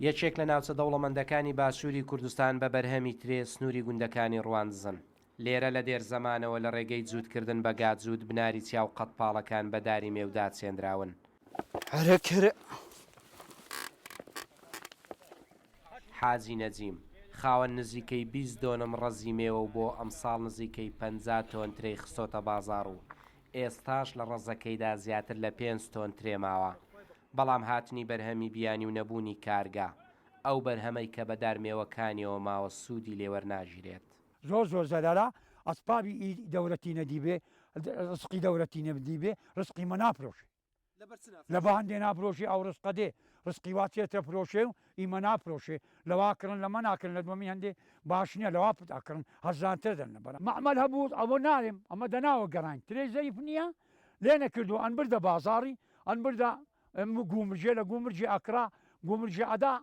یەکێک لە ناوچە دەوڵەمەندەکانی باشووری کوردستان بە بەرهەمی ترێ سنووری گوندەکانی ڕواندزن. لێرە لە دێر زەمانەوە لە ڕێگەی جووتکردن بە گا جووت بناری چیا و قەدپاڵەکان بە داری مێودا چێندراون. حاجی نەجیم، خاوەن نزیکەی بیست دۆنم ڕەزی مێوە و بۆ ئەمساڵ نزیکەی پەنجا تۆن ترێی خستۆتە بازاڕ و ئێستاش لە ڕەزەکەیدا زیاتر لە پێنج تۆن ترێ ماوە، بەڵام هاتنی بەرهەمی بیانی و نەبوونی کارگە، ئەو بەرهەمەی کە بە دار مێوەکانیەوە ماوە سوودی لێ وەرناگیرێت. زۆر زۆر زەرەرە ئەسپابی ئی دەورەتی نەدیبێ ڕزقی دەورەتی نەدیبێ ڕزقی مە نافرۆشێ. لە بەهەندێ نافرۆشێ ئەو ڕزقە دێ ڕزقی وا تێ تەفرۆشێ و ئیمە نافرۆشێ لەوا کڕن لەمە ناکرن لە دوەمی هەندێ باش نیە لەوا پت ئەکڕن هەرزان تر دەن لەبەر مەعمەل هەبووت ئەوە نارێم ئەمە دە ناوە گەڕاین ترێ زەیف نیە لێ نەکردوە ئەن بردە بازاڕی ئەن بردە گوومرجێ لە گوومرجێ ئەکڕا گوومرجێ ئەدا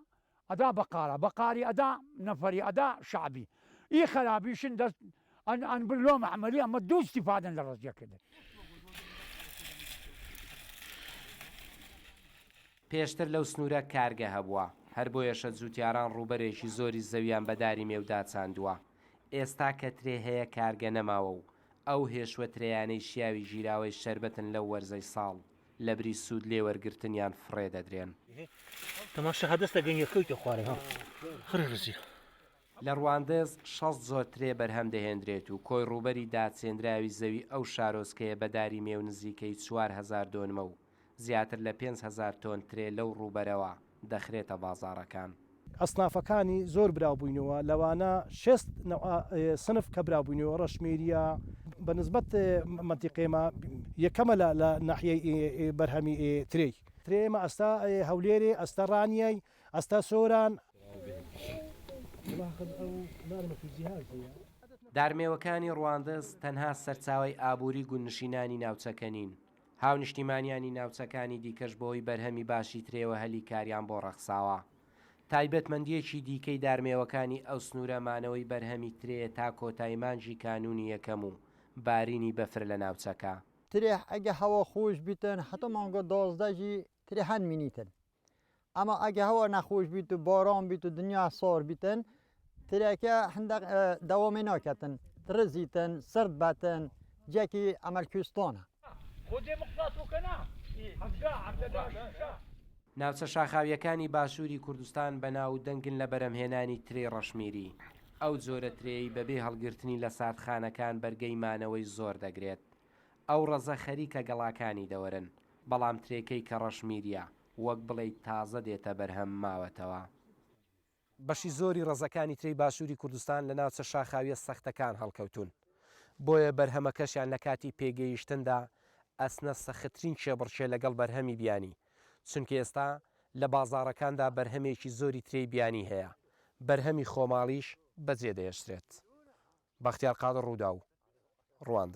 ئەدا بەقارە بەقاری ئەدا نەفەری ئەدا شەعبی ئی خەرابیشن دەست ئەن ئەن بر لۆ مەعمەلی ئەمە دوو ئستیفادەن لە ڕەزیە پێشتر لەو سنوورە کارگە هەبووە، هەر بۆیەشە جووتیاران ڕووبەرێکی زۆری زەویان بە داری مێو داچاندووە. ئێستا کە ترێ هەیە کارگە نەماوە و ئەو هێشوە ترێیانەی شیاوی ژیراوەی شەربەتن لەو وەرزەی ساڵ. لەبری سوود لێ وەرگرتنیان فڕێ دەدرێن. لە ڕواندز شەست جۆر ترێ بەرهەم دەهێندرێت و کۆی ڕووبەری داچێندراوی زەوی ئەو شارۆچکەیە بە داری مێو نزیکەی چوار هەزار دۆنمە و زیاتر لە پێنج هەزار تۆن ترێ لەو ڕووبەرەوە دەخرێتە بازاڕەکان. ئەسنافەکانی زۆر براوبووینەوە، لەوانە شێست نەوع سنف کە براوبووینەوە، ڕەشمیرییە، بە نسبەت مەنتیقەی ئێمە یەکەمە لە ناحیەی بەرهەمی ترێی. ترێی ئێمە ئەستە هەولێرێ، ئەستە ڕانیەی، ئەستە سۆران. دارمێوەکانی ڕواندز تەنها سەرچاوەی ئابووری گوندنشینانی ناوچەکە نین، هاونیشتیمانیانی ناوچەکانی دیکەش بەوەی بەرهەمی باشی ترێوە هەلی کاریان بۆ ڕەخساوە. تایبەتمەندییەکی دیکەی دارمێوەکانی ئەو سنوورە مانەوەی بەرهەمی ترێیە تا کۆتای مانگی کانوونی یەکەم و بارینی بەفر لە ناوچەکە. ترێ ئەگە هەوا خووش بیتن هەتا مانگە دازدە ژی ترێ هەن مینیتن. ئەما ئەگە هەوا نەخوش بیت و باران بیت و دنیا سار بیتن ترێکە هەندێک دەوامی ناکەتن ترزیتن سرد بەتن جێکی ئەمەل کوێستانە. ناوچە شاخاوییەکانی باشووری کوردستان بەناو و دەنگن لە بەرهەمهێنانی ترێی ڕەشمیری. ئەو جۆرە ترێی بەبێ هەڵگرتنی لە ساردخانەکان بەرگەی مانەوەی زۆر دەگرێت. ئەو ڕەزە خەریکە گەڵاکانی دەوەرن، بەڵام ترێکەی کە ڕەشمیریە، وەک بڵێیت تازە دێتە بەرهەم ماوەتەوە. بەشی زۆری ڕەزەکانی ترێی باشووری کوردستان لە ناوچە شاخاویە سەختەکان هەڵکەوتوون، بۆیە بەرهەمەکەشیان لە کاتی پێگەیشتندا ئەچنە سەختترین کێبڕکێ لەگەڵ بەرهەمی بیانی، چونکە ئێستا لە بازاڕەکاندا بەرهەمێکی زۆری ترێی بیانی هەیە، بەرهەمی خۆماڵیش بەجێدەهێشترێت. بەختیار قادر، رووداو، رواندز.